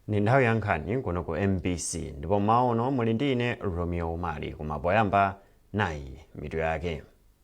ndi nthawi ya nkhani kuno ku mbc ndipo mmawa uno muli ndi ine romeo umali koma poyamba nayi mitu yake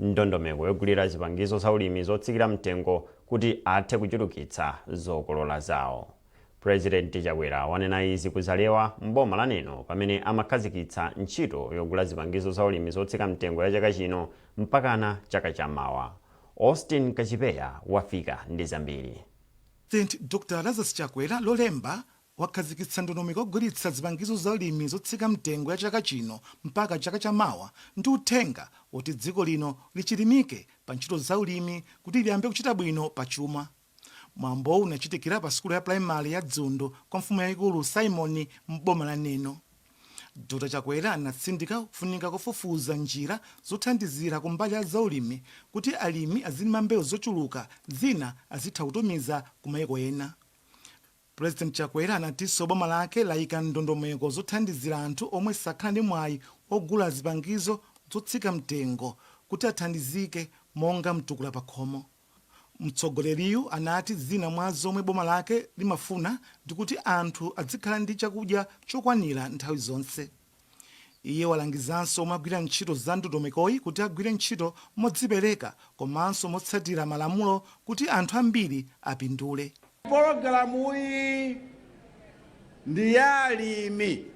Ndondomeko yogulira zipangizo zaulimi zotsikira mtengo kuti athe kuchulukitsa zokolola zawo. Pulezidenti Chakwera wanena izi ku Zalewa m'boma la Neno pamene amakhazikitsa ntchito yogula zipangizo zaulimi zotsika mtengo ya chaka chino mpakana chaka cha mawa. Austin Kachipeya wafika ndi zambiri. Pulezidenti Dr Lazarus Chakwera Lolemba wakhazikitsa ndondomeko yogulitsa zipangizo za ulimi zotsika mtengo ya chaka chino mpaka chaka cha mawa ndi uthenga woti dziko lino lichilimike pa ntchito za ulimi kuti liyambe kuchita bwino pa chuma. Mwambowu unachitikira pa sukulu ya pulayimale ya Dzundu kwa mfumu yayikulu Saimoni m'boma la Neno. Dr Chakwera anatsindika kufunika kofufuza njira zothandizira kumbali ya za ulimi kuti alimi azilima mbewu zochuluka zina azitha kutumiza ku mayiko ena. Pulezidenti Chakwera anatinso boma lake layika ndondomeko zothandizira anthu omwe sakhala ndi mwayi wogula zipangizo zotsika mtengo kuti athandizike monga mtukula pakhomo. Mtsogoleriyu anati zina mwa zomwe boma lake limafuna ndi kuti anthu adzikhala ndi chakudya chokwanira nthawi zonse. Iye walangizanso omwe agwira ntchito za ndondomekoyi kuti agwire ntchito modzipereka komanso motsatira malamulo kuti anthu ambiri apindule. Pologalamuyi ndi ya alimi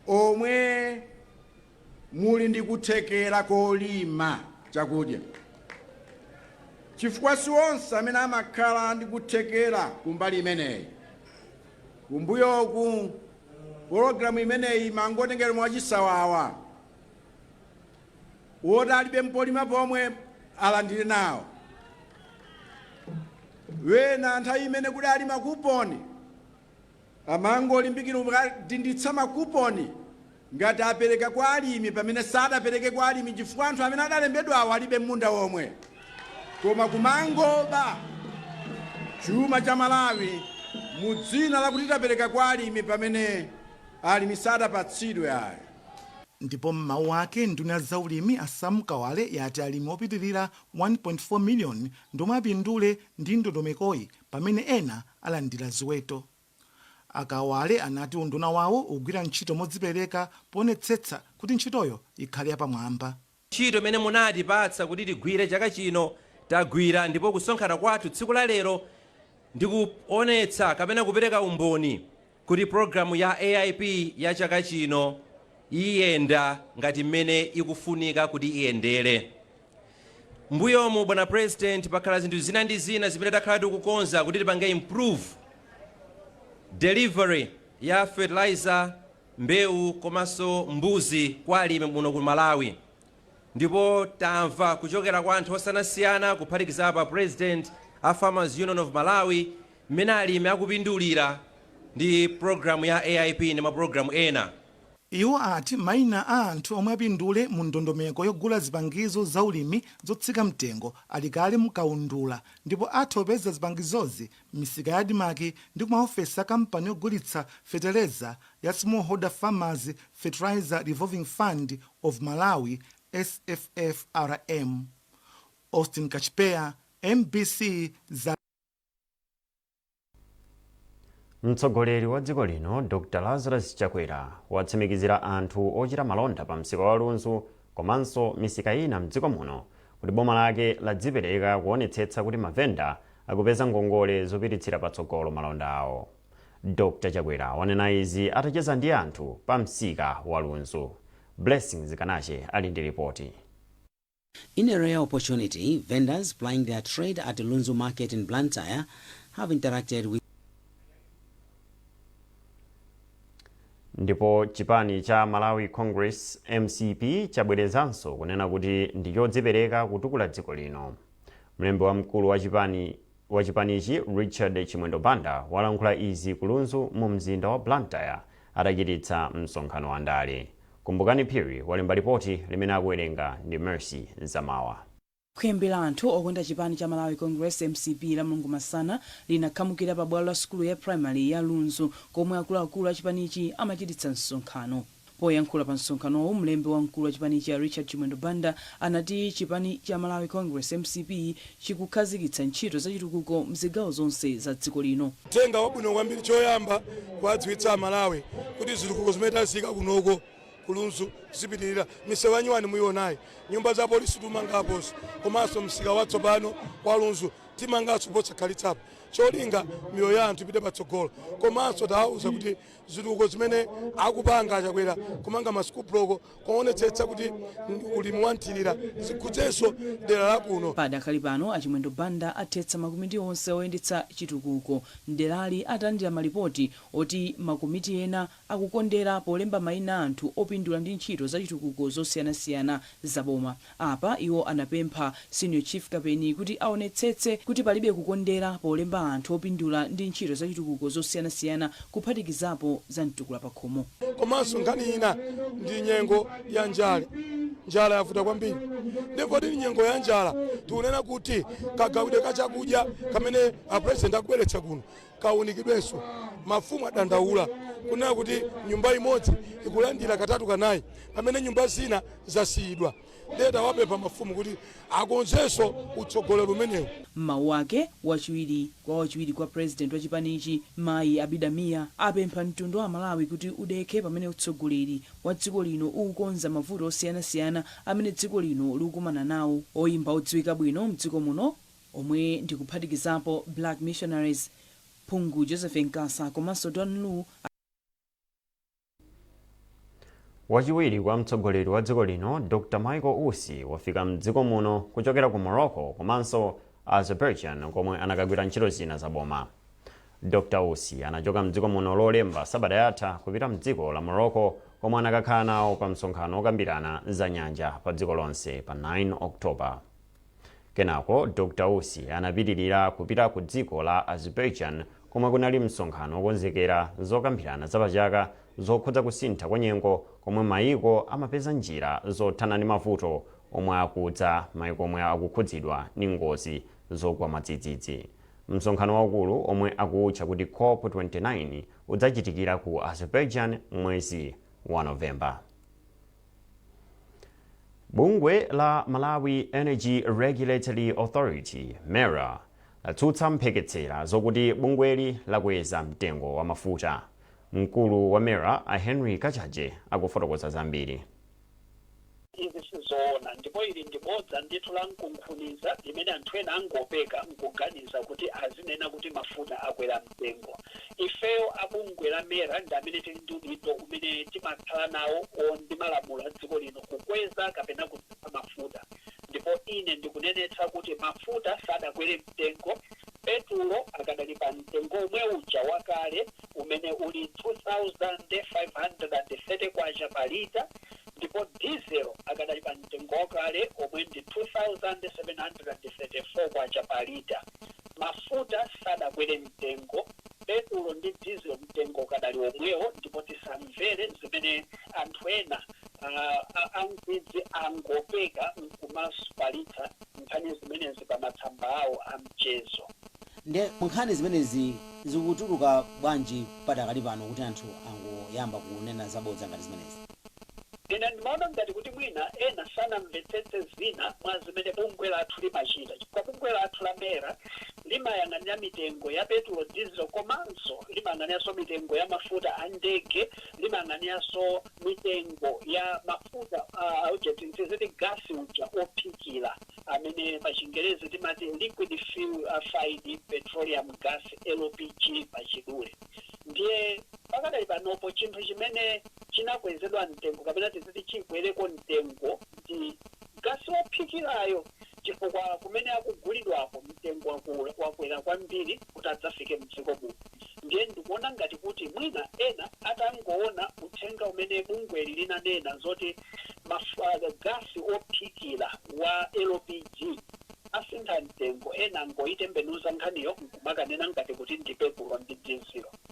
omwe muli ndi kuthekera kolima chakudya chifukwa si onse amene amakhala ndi kuthekera kumbali imeneyi. Kumbuyoku Pologalamu imeneyi imangotengedwa mwachisawawa, woti alibe mpolima pomwe alandire nawo. Wena nthawi imene kudali makuponi amangolimbikira kudinditsa makuponi ngati apereka kwa alimi pamene sadapereke kwa alimi chifukwa anthu amene adalembedwawo alibe m'munda womwe. Koma kumangoba chuma cha Malawi mu dzina lakuti tapereka kwa alimi pamene alimi sadapatsidwe ayi. Ndipo m'mawu ake, nduna ya zaulimi a Sam Kawale yati alimi opitilira 1.4 million ndiomwe apindule ndi ndondomekoyi pamene ena alandira ziweto. A Kawale anati unduna wawo ugwira ntchito modzipereka poonetsetsa kuti ntchitoyo ikhale yapamwamba. Ntchito imene munatipatsa kuti tigwire chaka chino tagwira ndipo kusonkhana kwathu tsiku la lero ndi kuonetsa kapena kupereka umboni kuti programu ya AIP ya chaka chino iyenda ngati mmene ikufunika kuti iyendere. Mmbuyomu bwana president pakhala zinthu zina ndi zina zimene takhala tikukonza kuti tipange improve delivery ya fertilizer, mbewu komanso mbuzi kwa alimi muno ku Malawi ndipo tamva kuchokera kwa anthu osiyanasiyana kuphatikizapo President a Farmers Union of Malawi mmene alimi akupindulira ndi program ya AIP ndi ma program ena. Iwo ati maina a anthu omwe apindule mu ndondomeko yogula zipangizo za ulimi zotsika mtengo ali kale mu kaundula ndipo atha kupeza zipangizozi m'misika ya Admarc ndi kumaofesi a kampani yogulitsa fetereza ya Smallholder Farmers Fertilizer Revolving Fund of Malawi, SFFRM. Austin Kachipeya, mbc, za. Mtsogoleri wa dziko lino Dr Lazarus Chakwera watsimikizira anthu ochita malonda pa msika wa Lunzu komanso misika ina mdziko muno kuti boma lake ladzipereka kuonetsetsa kuti mavenda akupeza ngongole zopititsira patsogolo malonda awo. Dr Chakwera wanena izi atacheza ndi anthu pa msika wa Lunzu. Blessings Kanache ali ndi lipoti. In a rare opportunity, vendors plying their trade at Lunzu Market in Blantyre have interacted with. Ndipo chipani cha Malawi Congress, mcp, chabwerezanso kunena kuti ndi chodzipereka kutukula dziko lino. Mlembi wamkulu wa chipanichi Richard Chimwendo Banda walankhula izi ku Lunzu mu mzinda wa Blantyre atachititsa msonkhano wa ndale. Kumbukani Phiri walemba lipoti limene akuwerenga ndi Mercy Nzamawa. Khwimbi la anthu okonda chipani cha Malawi Congress, mcp, lamulungu masana linakhamukira pa bwalo la sukulu ya primary ya Lunzu komwe akuluakulu a chipanichi amachititsa msonkhano. Poyankhula pa msonkhanowu, mlembi wamkulu wa chipanichi a Richard Chimwendo Banda anati chipani cha Malawi Congress, mcp, chikukhazikitsa ntchito za chitukuko mzigawo zonse za dziko lino. Uthenga wabwino kwambiri choyamba kuwadziwitsa a Malawi kuti zitukuko zimene taziyika kunoko, ku Lunzu zipitilira, misewu ya nyuwani muyiwonayi, nyumba za apolisi tikumanga aponso komanso msika watsopano wa Lunzu timanganso posakhalitsapa cholinga miyoyo ya anthu ipite patsogolo komanso tawawuza kuti zitukuko zimene akupanga a Chakwera kumanga ma school block kuwonetsetsa kuti ulimi wa mthilira zikhudzenso dera la kuno. Padakali pano a Chimwendo Banda athetsa makomiti onse oyendetsa chitukuko m'derali atandira malipoti oti makomiti ena akukondera polemba maina anthu opindula ndi ntchito zachitukuko zosiyanasiyana za boma. Apa iwo anapempha Senior Chief Kapeni kuti aonetsetse kuti palibe kukondera polemba anthu opindula ndi ntchito zachitukuko zosiyanasiyana kuphatikizapo za mtukula pakhomo. Komanso nkhani ina ndi nyengo ya njala. Njala yavuta kwambiri nde poti ndi nyengo ya njala tikunena kuti kagawidwe ka chakudya kamene a President akubweretsa kuno kaunikidwenso. Mafumu adandaula kunena kuti nyumba imodzi ikulandira katatu kanayi pamene nyumba zina zasiyidwa ndiye tawapempha mafumu kuti akonzenso utsogoleri umenewu. M'mawu ake, wachiwiri kwa president wa chipanichi mayi Abida Mia apempha mtundu wa amalawi kuti udekhe pamene utsogoleri wa dziko lino ukukonza mavuto osiyanasiyana amene dziko lino likukumana nawo. Oyimba odziwika bwino mdziko muno omwe ndi kuphatikizapo Black Missionaries, Phungu Joseph Nkasa komanso Dan Lu. Wachiwiri kwa mtsogoleri wa dziko lino Dr Michael Usi wafika m'dziko muno kuchokera ku Morocco komanso Azerbaijan komwe anakagwira ntchito zina za boma. Dr Usi anachoka m'dziko muno Lolemba sabata yatha kupita m'dziko la Morocco komwe anakakhala nawo pa msonkhano wokambirana za nyanja pa dziko lonse pa 9 October. Kenako Dr. Usi anapitirira kupita ku dziko la Azerbaijan komwe kunali msonkhano wokonzekera zokambirana za pachaka zokhudza kusintha kwa nyengo komwe mayiko amapeza njira zothana ndi mavuto omwe akudza mayiko omwe akukhudzidwa ndi ngozi zogwa mwadzidzidzi. Msonkhano waukulu omwe akuutcha kuti cop 29 udzachitikira ku Azerbaijan m'mwezi wa November. Bungwe la Malawi Energy Regulatory Authority, MERA, latsutsa mpheketsera zokuti bungweli lakweza mtengo wa mafuta. Mkulu wa MERA, a Henry Kachaje, akufotokoza zambiri. Izi sizoona ndipo ili ndi bodza ndithu la nkunkhuniza limene anthu ena angopeka nkuganiza kuti azinena kuti mafuta akwera mtengo. Ifeyo a bungwe la MERA ndi amene tili ndi udindo umene timakhala nawo o ndi malamulo a dziko lino kukweza kapena kutsitsa mafuta ndipo ine ndikunenetsa kuti mafuta sadakwere mtengo, petulo akadali pa mtengo omwe uja wakale umene uli K2530 pa lita ndipo dizelo akadali pa mtengo wakale omwe ndi K2734 pa lita. Mafuta sadakwere mtengo, petulo ndi diesel mtengo ukadali womwewo ndipo tisamvere zimene anthu ena ankwidzi angopeka nkumazifalitsa nkhani zimenezi pa matsamba awo a mchezo. Nde nkhani zimenezi zikutuluka bwanji padakali pano kuti anthu angoyamba kunena zabodza ngati zimenezi? Ine ndimaona ngati kuti mwina ena sanamvetsetse zina mwa zimene bungwe lathu limachita chifukwa bungwe lathu la MERA limayang'anira mitengo ya petulo, dizilo komanso limayang'aniranso mitengo ya mafuta a ndege, limayang'aniranso mitengo ya mafuta a uja tidziti gasi uja wophikira amene pachingerezi timati liquefied petroleum gas, LPG, pachidule. Ndiye pakadali panopo chinthu chimene. chinakwezedwa mtengo kapena tidziti chikwereko mtengo ndi gasi wophikirayo chifukwa kumene akugulidwako mtengo wakwera kwambiri kuti adzafike mdziko muno. Ndiye ndikuona ngati kuti mwina ena atangoona uthenga umene bungweli linanena zoti ma gasi wophikira wa LPG asintha mtengo, ena angoitembenuza nkhaniyo nkumakanena ngati kuti ndi petulo ndi dizilo.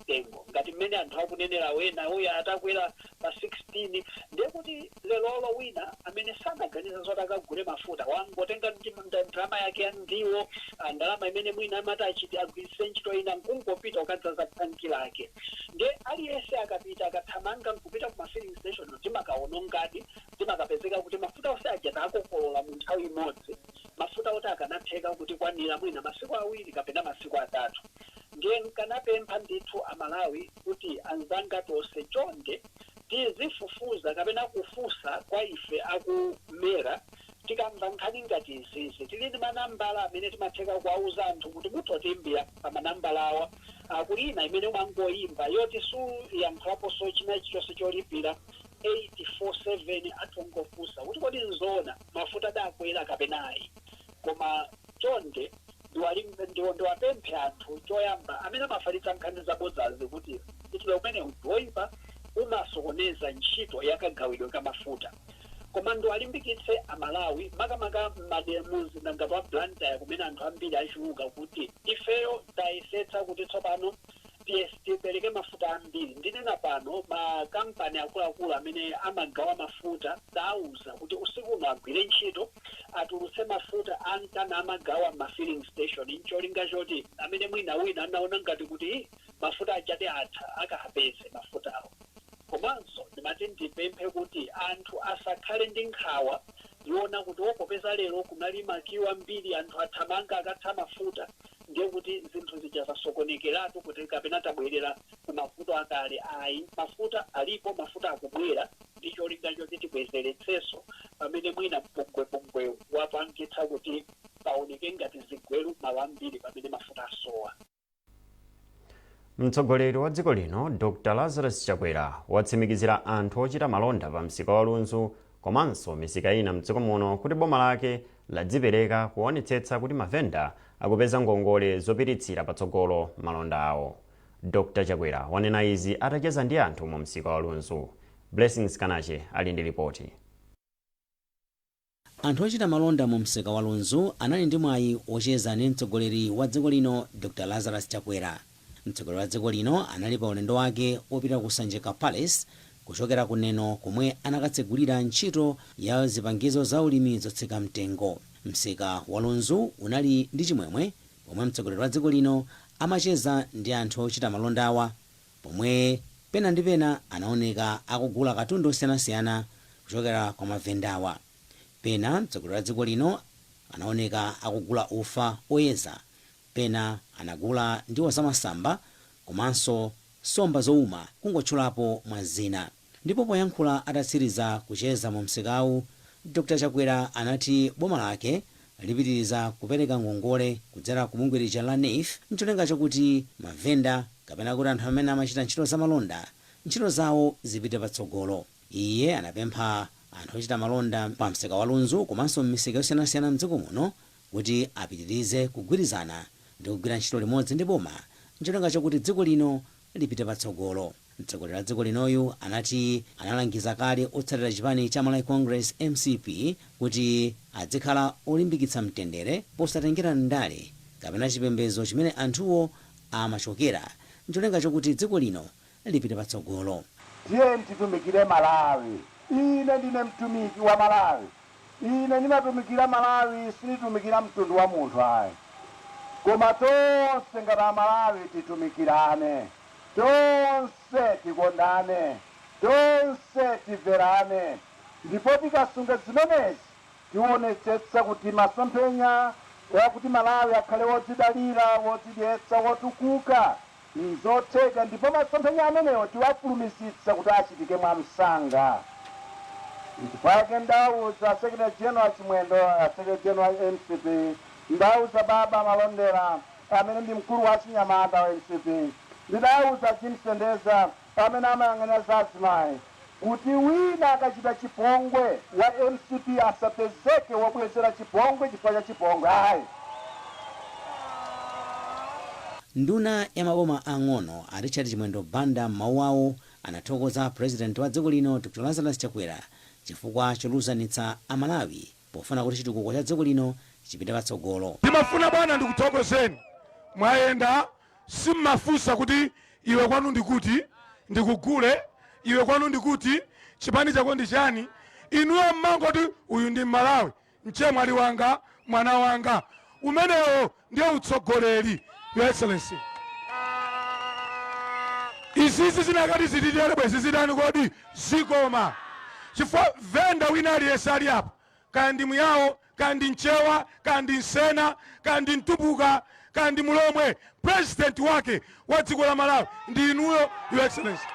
mtengo ngati mmene anthu akunenera ena uja atakwera pa 16 ndiye kuti lerolo wina amene sanaganize zoti akagule mafuta wangotenga ndalama yake ya ndiwo ah, ndalama imene mwina amati achite agwiritse ntchito ina nkungopita kukadzaza thanki lake ndiye aliyense akapita akathamanga nkupita kuma filling station zimakawonongadi zimakapezeka kuti mafuta onse aja akokolola mu nthawi imodzi mafuta oti akanatheka kutikwanira mwina masiku awiri kapena masiku atatu Ndiye nkanapempha ndithu a Malawi kuti anzanga tonse chonde tizifufuza kapena kufunsa kwa ife a ku MERA tikamva nkhani ngati izizi. Tili ndi manambala amene timatheka kuwauza anthu kuti mutha kutiimbira pa manambala awa. A, kuli ina imene umangoimba yoti suyankhulaponso china chilichonse cholipira 847 atha kungofunsa kuti kodi nzoona mafuta adakwera kapena ayi. Koma chonde ndiwa- ndiwapemphe anthu choyamba amene amafalitsa nkhani zabodzazi kuti mchitidwe umenewu ndiwoipa umasokoneza ntchito ya kagawidwe ka mafuta. Koma ndiwalimbikitse a Malawi makamaka m'madera mumzinda ngati wa Blantyre kumene anthu ambiri achuluka kuti ifeyo tayesetsa kuti tsopano Yes, tipereke mafuta ambiri. Ndinena pano makampani akuluakulu amene amagawa mafuta tauza kuti usiku uno agwire ntchito atulutse mafuta akhale amagawa m'ma filling station ncholinga choti amene mwina wina anaona ngati kuti "Ih, mafuta achati atha akapeze mafutawo komanso ndimati ndipemphe kuti anthu asakhale ndi nkhawa yoona kuti popeza lero kunali makiwo ambiri anthu athamanga akatha mafuta ndiye kuti zinthu zija zasokonekeratu kuti kapena tabwerera ku mavuto akale ayi mafuta alipo mafuta akubwera ndi cholinga choti tibwezeretsenso pamene mwina mpungwepungwewu wapangitsa kuti paoneke ngati zigweru malo ambiri pamene mafuta asowa mtsogoleri wa dziko lino dr lazarus chakwera watsimikizira anthu ochita malonda pa msika wa lunzu komanso misika ina mdziko muno kuti boma lake ladzipereka kuonetsetsa kuti mavenda akupeza ngongole zopititsira patsogolo malonda awo. Dr Chakwera wanena izi atacheza ndi anthu mu msika wa Lunzu. Blessings Kanache ali ndi lipoti. Anthu ochita malonda mu msika wa Lunzu anali ndi mwayi wocheza ndi mtsogoleri wa dziko lino Dr Lazarus Chakwera. Mtsogoleri wa dziko lino anali pa ulendo wake opita ku Sanjika Palace kuchokera ku Neno komwe anakatsegulira ntchito ya zipangizo za ulimi zotsika mtengo. Msika wa Lunzu unali ndi chimwemwe pomwe mtsogoleri wa dziko lino amacheza ndi anthu ochita malondawa pomwe pena ndi pena anaoneka akugula katundu osiyanasiyana kuchokera kwa mavendawa. Pena mtsogoleri wa dziko lino anaoneka akugula ufa oyeza. Pena anagula ndiwo zamasamba komanso nsomba zouma kungotchulapo mwa zina. Ndipo poyankhula atatsiriza kucheza mu msikawu, Dr Chakwera anati boma lake lipitiriza kupereka ngongole kudzera ku bungwe lija la Neef ncholinga chokuti mavenda kapena kuti anthu amene amachita ntchito zamalonda ntchito zawo zipite patsogolo. Iye anapempha anthu ochita malonda pa msika wa Lunzu komanso m'misika yosiyanasiyana m'dziko muno kuti apitirize kugwirizana ndi kugwira ntchito limodzi ndi boma n'cholinga chokuti dziko lino lipite patsogolo. Mtsogoleri wa dziko linoyu anati analangiza kale otsatira chipani cha Malawi Congress, mcp, kuti adzikhala olimbikitsa mtendere posatengera ndale kapena chipembedzo chimene anthuwo amachokera n'cholinga chokuti dziko lino lipite patsogolo. Tiyeni titumikire Malawi. Ine ndine mtumiki wa Malawi. Ine ndimatumikira Malawi sinditumikira mtundu wa munthu ayi. Koma tonse ngati a Malawi titumikirane. Tonse tikondane. Tonse timverane. Ndipo tikasunga zimenezi tiwonetsetsa kuti masomphenya oakuti Malawi akhale wodzidalira, wodzidyetsa, wotukuka N'zotheka, ndipo masomphenya amenewo tiwafulumizitsa kuti achitike mwamsanga. Mpake ndauza Secretary General Chimwendo, a Secretary General a mcp, ndauza Baba Malondera, amene ndi mkulu wa achinyamata wa mcp, ndidauza Jean Sendeza, amene amayang'anira za azimayi kuti wina akachita chipongwe wa mcp asapezeke wobwezera chipongwe chifukwa cha chipongwe ayi. Nduna ya maboma ang'ono a Richard Chimwendo Banda m'mawu awo anathokoza President wa dziko lino Dr Lazarus Chakwera chifukwa cholunzanitsa a Malawi pofuna kuti chitukuko cha dziko lino chipite patsogolo. Ndimafuna bwana ndikuthokozeni mwayenda Simmafunsa kuti iwe kwanu ndi kuti, ndikugule, iwe kwanu ndi kuti, chipani chako ndi chani, inuyo mmangoti uyu ndi Mmalawi, mchemwali wanga, mwana wanga. Umenewo ndiye utsogoleri, Your Excellency. Izizi zinakati zititere bwezi zitani kodi? Zikoma. Chifukwa venda wina aliyense ali apo kaya ndi Muyao, kaya ndi Mchewa, kaya ndi Msena, kaya ndi Mtumbuka, kaya ndi Mulomwe, president wake wa dziko la Malawi ndi inuyo, Your Excellency.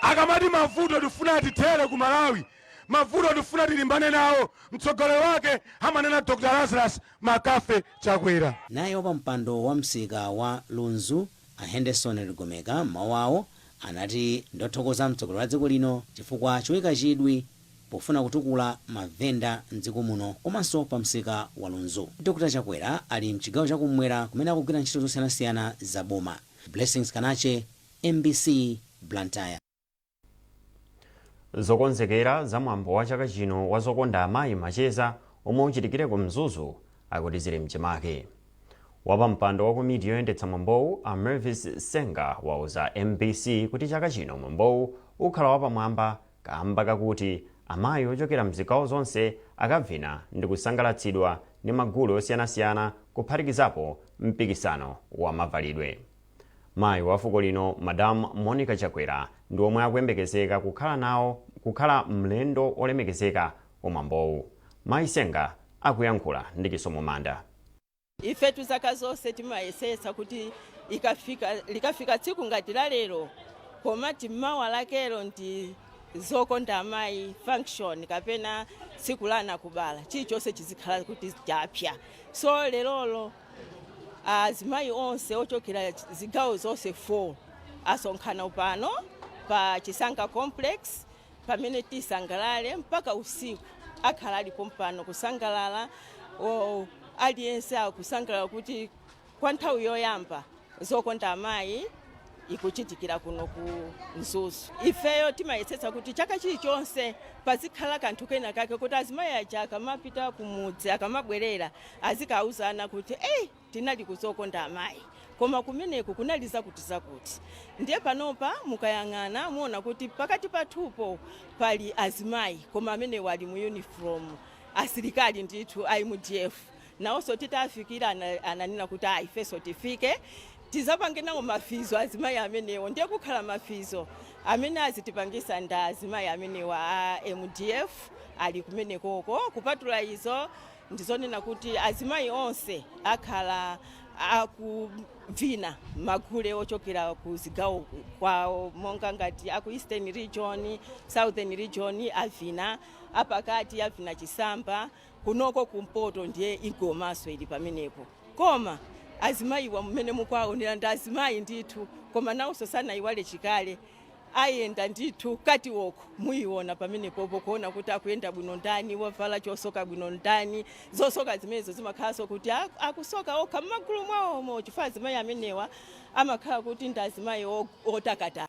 Akamati mavuto tifuna tithere ku Malawi, mavuto tifuna tilimbane nawo, mtsogoleri wake amanena Dr. Lazarus McCarthy Chakwera. Naye wapampando wa msika wa Lunzu A Henderson Ligomeka m'mawu awo anati ndiothokoza mtsogoleri wa dziko lino chifukwa choika chidwi pofuna kutukula mavenda m'dziko muno komanso pa msika wa Lunzu. Dr Chakwera ali m'chigawo cha kummwera kumene akugwira ntchito zosiyanasiyana za boma. Blessings Kanache, mbc, Blantyre. Zokonzekera za mwambo wa chaka chino wa Zokonda Amayi Macheza omwe uchitikire ku Mzuzu akuti zili mchimake. Wapampando wa komiti yoyendetsa mwambowu a Mervis Senga wauza mbc kuti chaka chino mwambowu ukhala wapamwamba kaamba kakuti amayi ochokera mzigawo zonse akavina ndikusangalatsidwa ndi magule osiyanasiyana kuphatikizapo mpikisano wa mavalidwe. Mayi wa fuko lino Madam Monica Chakwera ndi omwe akuyembekezeka kukhala mlendo olemekezeka ku mwambowu. Mayi Senga akuyankhula ndi Chisomo Manda. Ifetu zaka zonse timayesetsa kuti likafika tsiku ngati la lero pomati mawa lakelo ndi zokonda amayi function kapena tsiku la anakubala chilichonse chizikhala kuti chapsa so lerolo Azimayi onse ochokera zigawo zonse 4 asonkhana pano pa Chisanga Complex pamene tisangalale mpaka usiku. Akhala ali pompano kusangalala, o, aliyense akusangalala kuti kwa nthawi yoyamba Zokonda Amayi ikuchitikira kuno ku Mzuzu. Ifeyo timayesetsa kuti chaka chilichonse pazikhala kanthu kena kake kuti azimayi aja akamapita kumudzi akamabwerera azikauzana kuti ei tinali ku zokonda amayi koma kumeneku kunali zakuti zakuti. Ndiye panopa mukayang'ana muona kuti pakati pathupo pali azimayi koma amenewa ali mu uniform asilikali ndithu a mdf. Nawonso titawafikira ananena kuti aah ifeso tifike tizapange nawo mafizo azimayi amenewo ndiye kukhala mafizo amene azitipangisa ndi azimayi amenewa a mdf ali kumenekoko kupatula izo ndizonena kuti azimayi onse akhala akuvina magule ochokera ku zigawo kwawo monga ngati aku eastern region, southern region avina, apakati avina chisamba. kunoko kumpoto ndiye ingomanso ili pamenepo koma azimayiwa mmene mukuwaonera ndi azimayi ndithu koma nawonso sanayiwale chikale ayenda ndithu catwalk muyiona pamenepopo kuona kuti akuyenda bwino ndani wavala chosoka bwino ndani zosoka zimenezo zimakhalanso kuti a- akusoka okha mmagulu mwawomo chifukwa azimayi amenewa amakhala kuti ndi azimayi o- otakataka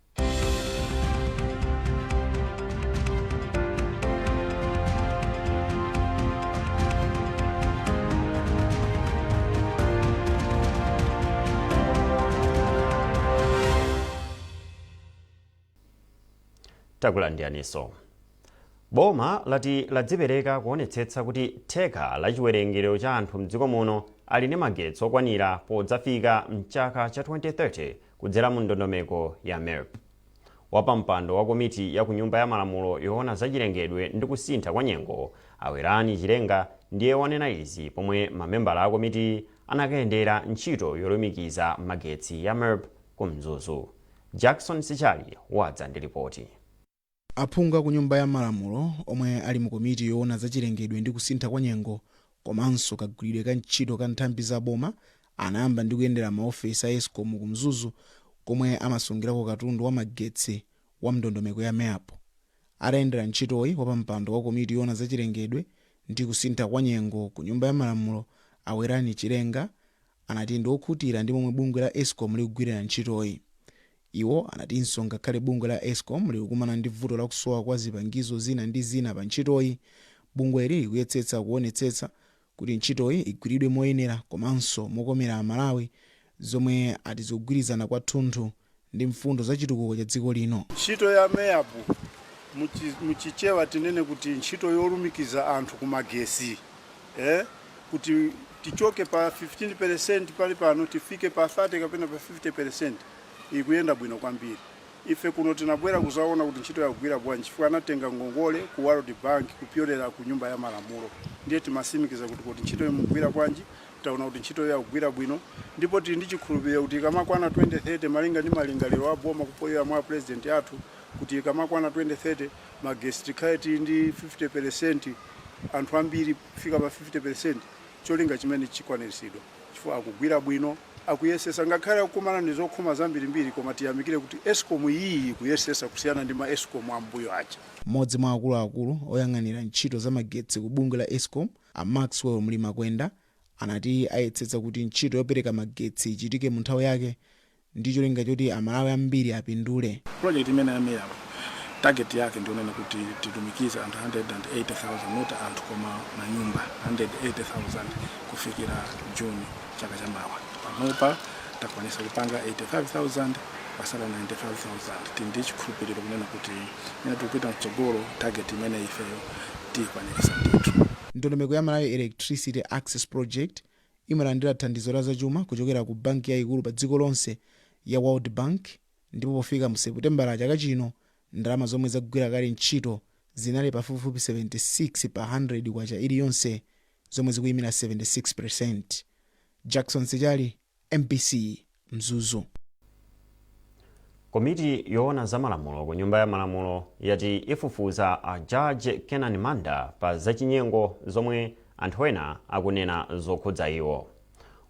takulandiraninso boma lati ladzipereka kuonetsetsa kuti theka la chiwerengero cha anthu mdziko muno ali ndi magetsi okwanira podzafika mchaka cha 2030 Kudzera mu ndondomeko ya MEAP, wapampando wa komiti ya ku Nyumba ya Malamulo yoona za chilengedwe ndi kusintha kwa nyengo, a Werani Chilenga, ndiye wanena izi pomwe mamembala a komitiyi anakayendera ntchito yolumikiza magetsi ya MEAP ku Mzuzu. Jackson Sichali wadza ndi lipoti. Aphungu a ku Nyumba ya Malamulo omwe ali mu komiti yoona za chilengedwe ndi kusintha kwa nyengo komanso kagwiridwe ka ntchito ka nthambi za boma anayamba ndi kuyendera maofesi a Escom ku Mzuzu komwe amasungirako katundu wa magetsi wa m'ndondomeko ya MEAP. Atayendera ntchitoyi, wapampando wa komiti yoona za chilengedwe ndi kusintha kwa nyengo ku Nyumba ya Malamulo a Werani Chilenga anati ndi okhutira ndi momwe bungwe la Escom likugwirira ntchitoyi. Iwo anatinso ngakhale bungwe la Escom likukumana ndi vuto la kusowa kwa zipangizo zina ndi zina pa ntchitoyi, bungweli likuyetsetsa kuonetsetsa kuti ntchitoyi igwiridwe moyenera komanso mokomera Amalawi zomwe ati zigwirizana kwathunthu ndi mfundo za chitukuko cha dziko lino. Ntchito ya MEAP, mu Chichewa tinene kuti ntchito yolumikiza anthu ku magesi. eh, kuti tichoke pa 15% pali pano tifike pa 30 kapena pa 50% ikuyenda bwino kwambiri ife kuno tinabwera kuzaona kuti ntchitoyi akugwira bwanji chifukwa anatenga ngongole ku World Bank kupyolera ku nyumba ya malamulo ndiye timasimikiza kuti kuti ntchito imugwira bwanji taona kuti ntchitoyi akugwira bwino ndipo tili ndi chikhulupiriro kuti ikamakwana 2030 malinga ndi malingaliro a boma kupyolera mwa a president athu kuti ikamakwana 2030 magetsi tikhale tili ndi 50 pelesenti anthu ambiri kufika pa 50 pelesenti cholinga chimenechi chikwaniritsidwa chifukwa akugwira bwino akuyesesa ngakhale akukumana ndizokhoma zambirimbiri koma tiyamikire kuti escom iyi ikuyesesa kusiyana ndi ma escom am'mbuyo aja. M'modzi mwa akuluakulu oyang'anira ntchito za magetsi ku bungwe la escom a Maxwell Mlimakwenda anati ayetsetsa kuti ntchito yopereka magetsi ichitike munthawi yake ndi cholinga choti Amalawi ambiri apindule. Project imeneyi ya MEAP target yake ndiyonena kuti tilumikize anthu 180,000 not anthu koma manyumba 180,000 kufikira June chaka cha mawa. Panopa takwanisa kupanga 85,000 pasala 95,000. Tili ndi chikhulupiliro kunena kuti mmene tikupita mtsogolo target imeneyi ifeyo tiyikwanilisa ndithu. Ndondomeko ya Malawi Electricity Access Project, imalandira thandizo la zachuma kuchokera ku banki yaikulu padziko lonse ya World Bank ndipo pofika mu Seputembala chaka chino, ndalama zomwe zagwira kale ntchito zinali pafupifupi 76 pa K100 iliyonse, zomwe zikuimira 76%. Jackson Sichali, mbc. Mzuzu. Komiti yoona za malamulo ku nyumba ya malamulo yati ifufuza a Judge Kenani Manda pa zachinyengo zomwe anthu ena akunena zokhudza iwo.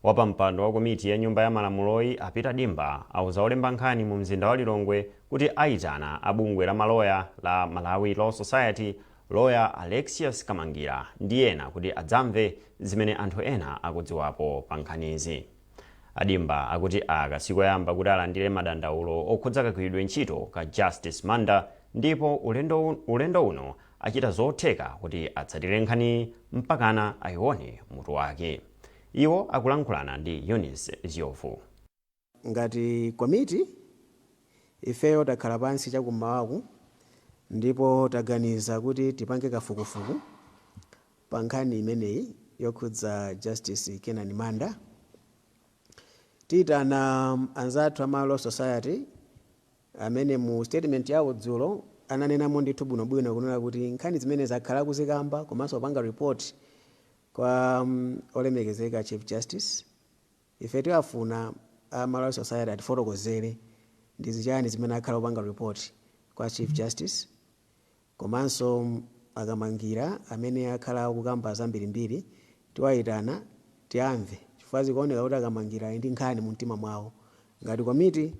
Wapampando wa komiti ya nyumba ya malamuloyi a Peter Dimba auza olemba nkhani mu mzinda wa Lilongwe kuti aitana a bungwe la maloya la Malawi Law Society loya Alexious Kamangila ndi ena kuti adzamve zimene anthu ena akudziwapo pa nkhanizi. A Dimba akuti aka sikoyamba kuti alandire madandaulo okhudza kagwiridwe ntchito ka Justice Manda ndipo ulendo uno achita zotheka kuti atsatire nkhaniyi mpakana ayione mutu wake. Iwo akulankhulana ndi Eunice Zyovu. Ngati komiti, ifeyo takhala pansi chakum'mawaku ndipo taganiza kuti tipange kafukufuku Pa nkhani imeneyi yokhudza Justice Kenan Manda, tiitana anzathu a Malawi Law Society amene mu statement yawo dzulo ananenamo ndithu bwinobwino kunena kuti nkhani zimenezi akhala akuzikamba komanso kupanga report kwa Olemekezeka Chief Justice. Ife tiwafuna a Malawi Law Society atifotokozere ndi zichani zimene akhala akupanga report kwa Chief Justice. Komanso a Kamangila amene akhala akukamba zambirimbiri tiwaitana tiamve chifukwa zikuoneka kuti a Kamangila ali ndi nkhani mu mtima mwawo ngati komiti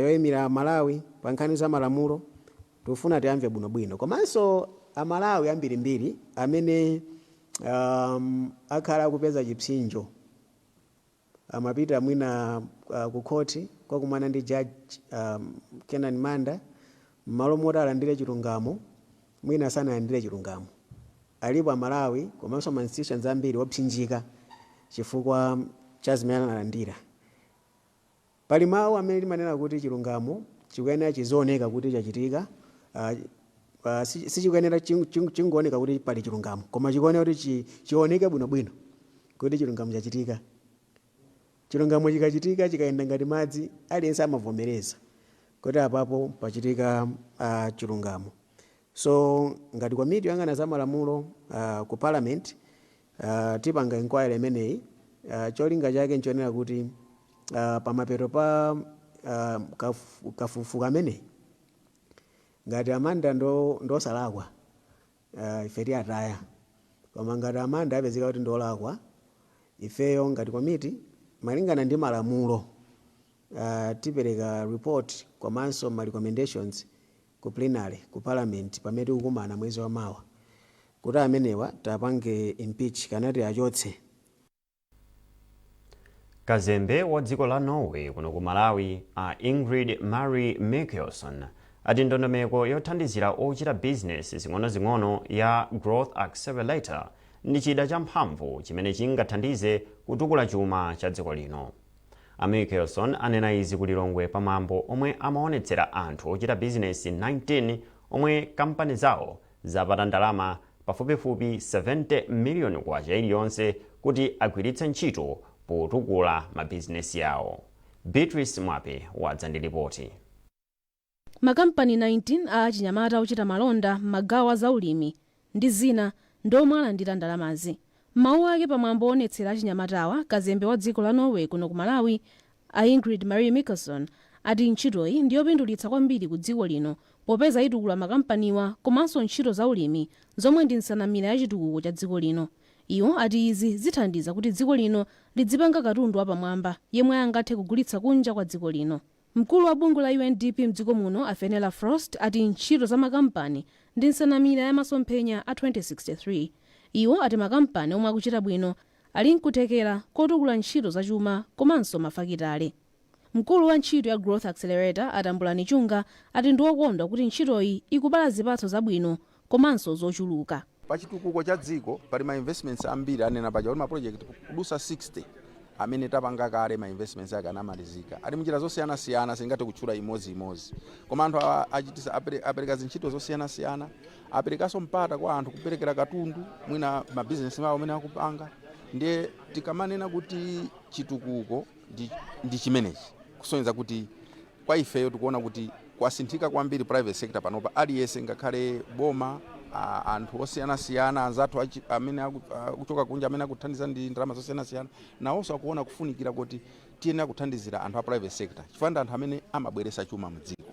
yoimira amalawi pa nkhani za malamulo tifuna tiamve bwinobwino komanso amalawi ambirimbiri amene akhala akupeza chipsinjo amapita mwina ku court kukakumana ndi judge Kenan Manda mmalo moti alandire chilungamo mwina sanalandire chilungamo. Alipo a Malawi komanso ma institutions ambiri opsinjika chifukwa cha zimene analandira. Pali mau amene timanena kuti chilungamo chikuyenera chizioneka kuti chachitika, a, a, si, sichikuyenera ching, ching, chingooneka kuti pali chilungamo, koma chikuyenera kuti chi, chioneke bwinobwino kuti chilungamo chachitika. Chilungamo chikachitika, chikayenda ngati madzi, aliyense amavomereza kuti apapo pachitika a, chilungamo. So ngati komiti yoyang'ana za malamulo a, ku Parliament tipanga inquiry imeneyi cholinga chake nchonena kuti pamapeto pa kafukufuku ameneyi ngati a Manda ndiosalakwa ife tiataya koma ngati a Manda apezeka kuti ndiolakwa ifeyo ngati komiti malingana ndi malamulo tipereka report komanso ma recommendations ku plenary ku parliament pamene tikukumana mwezi wa mawa kuti amenewa tapange impeach kapena tiachotse. Kazembe wa dziko la Norway kuno ku Malawi, a Ingrid Marie Mikelsen, ati ndondomeko yothandizira ochita bizinesi zing'onozing'ono ya Growth Accelerator ndi chida champhamvu chimene chingathandize kutukula chuma cha dziko lino. A Mikelsen anena izi ku Lilongwe pa mwambo omwe amaonetsera anthu ochita bizinesi 19 omwe kampani zawo zapata ndalama pafupifupi K70 miliyoni iliyonse kuti agwiritse ntchito potukula mabizinesi awo. Beatrice Mwape wadza ndi lipoti. Makampani 19 a achinyamata ochita malonda m'magawo a zaulimi ndi zina ndi omwe alandira ndalamazi. M'mawu ake pa mwambo owonetsera achinyamatawa, kazembe wa dziko la Norway kuno ku Malawi, a Ingrid Marie Mikelsen, ati ntchitoyi ndi yopindulitsa kwambiri ku dziko lino popeza itukula makampaniwa komanso ntchito zaulimi zomwe ndi nsanamira ya chitukuko cha dziko lino. Iwo ati izi zithandiza kuti dziko lino lidzipanga katundu wapamwamba yemwe angathe kugulitsa kunja kwa dziko lino. Mkulu wa bungwe la UNDP mdziko muno a Fenella Frost ati ntchito za makampani ndi nsanamira ya masomphenya a 2063. Iwo ati makampani omwe akuchita bwino ali nkuthekera kotukula ntchito za chuma komanso mafakitale. Mkulu wa ntchito ya Growth Accelerator a Tambulani Chunga ati ndiokondwa kuti ntchitoyi ikubala zipatso zabwino komanso zochuluka. Pa chitukuko cha dziko pali ma investments ambiri, anena paja kuti ma project kudusa 60 amene tapanga kale ma investments ake anamalizika. Ali mnjira zosiyana siyana sindingathe kutchula imodzi imodzi. Koma anthu achitisa apereka zintchito zosiyana siyana, aperekanso mpata kwa anthu kuperekera katundu mwina ma business awo amene akupanga. Ndiye tikamanena kuti chitukuko ndi chimenechi kusonyeza kuti Kwa ifeyo tikuona kuti kwasinthika kwambiri private sector panopa aliyese ngakhale boma anthu osiyanasiyana anzathu amene akuchoka kunja amene akuthandiza ndi ndalama zosiyanasiyana nawonso akuona kufunikira koti tiyenera kuthandizira anthu a private sector chifukwa ndi anthu amene amabweresa chuma mu dziko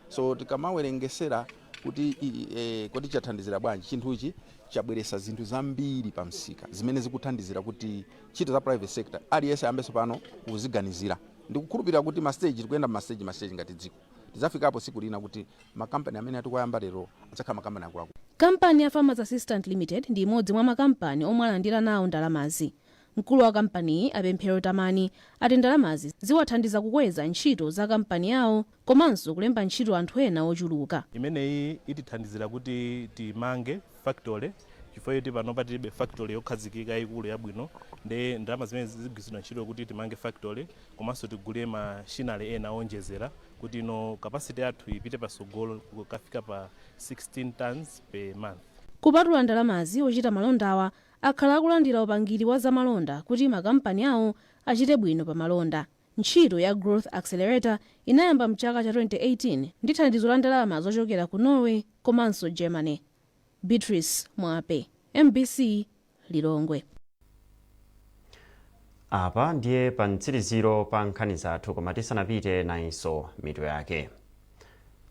so tikamawerengesera kuti e, kodi chathandizira bwanji chinthuchi chabweresa zinthu zambiri pa msika zimene zikuthandizira kuti ntchito za private sector aliyese ambeso pano kuziganizira Ndikukhulupirira kuti ma stage, tikuyenda mma stage ma stage ngati dziko. Tidzafikapo tsiku lina kuti makampani amene tikuwayamba lero adzakhala makampani akuluakulu. Kampani ya Farmers Assistant Limited ndi imodzi mwa makampani omwe alandira nawo ndalamazi. Mkulu wa kampaniyi, a Pemphero Tamani, ati ndalamazi ziwathandiza kukweza ntchito za kampani yawo komanso kulemba ntchito anthu ena ochuluka. Imeneyi itithandizira kuti timange factory chifukwa choti panopa tilibe factory yokhazikika yayikulu yabwino nde ndalama zimenezi zigwiritsidwa ntchito kuti timange factory komanso tigule machinery ena owonjezera kuti ino capacity yathu ipite patsogolo kukafika pa 16 tonnes per month. Kupatula ndalamazi, ochita malondawa akhala akulandira upangiri wa za malonda kuti makampani awo achite bwino pa malonda. Ntchito ya Growth Accelerator inayamba m'chaka cha 2018 ndi thandizo la ndalama zochokera ku Norway komanso Germany. Beatrice Mwape, MBC Lilongwe. Apa ndiye pa mtsiriziro pa nkhani zathu koma tisanapite nayinso mitu yake.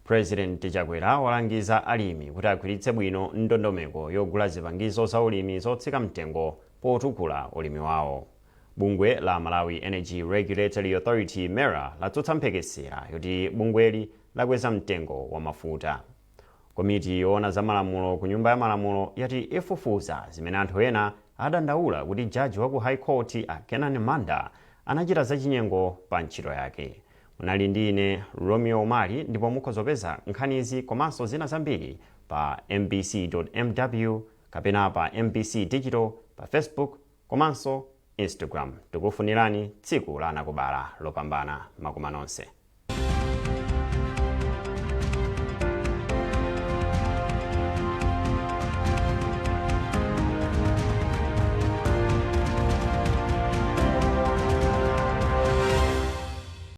Pulezidenti Chakwera walangiza alimi kuti agwiritse bwino ndondomeko yogula zipangizo za ulimi zotsika mtengo potukula ulimi wawo. Bungwe la Malawi Energy Regulatory Authority, MERA, latsutsa mphekesera yoti bungweli lakweza mtengo wa mafuta. Komiti yoona za malamulo ku Nyumba ya Malamulo yati ifufuza zimene anthu ena adandaula kuti jaji wa ku High Court a Kenan Manda anachita zachinyengo pa ntchito yake. Munali ndi ine Romeo Umali ndipo mukhoza kupeza nkhanizi komanso zina zambiri pa mbc.mw kapena pa mbc digital pa Facebook komanso Instagram. Tikufunirani tsiku la anakubala lopambana. Makoma nonse.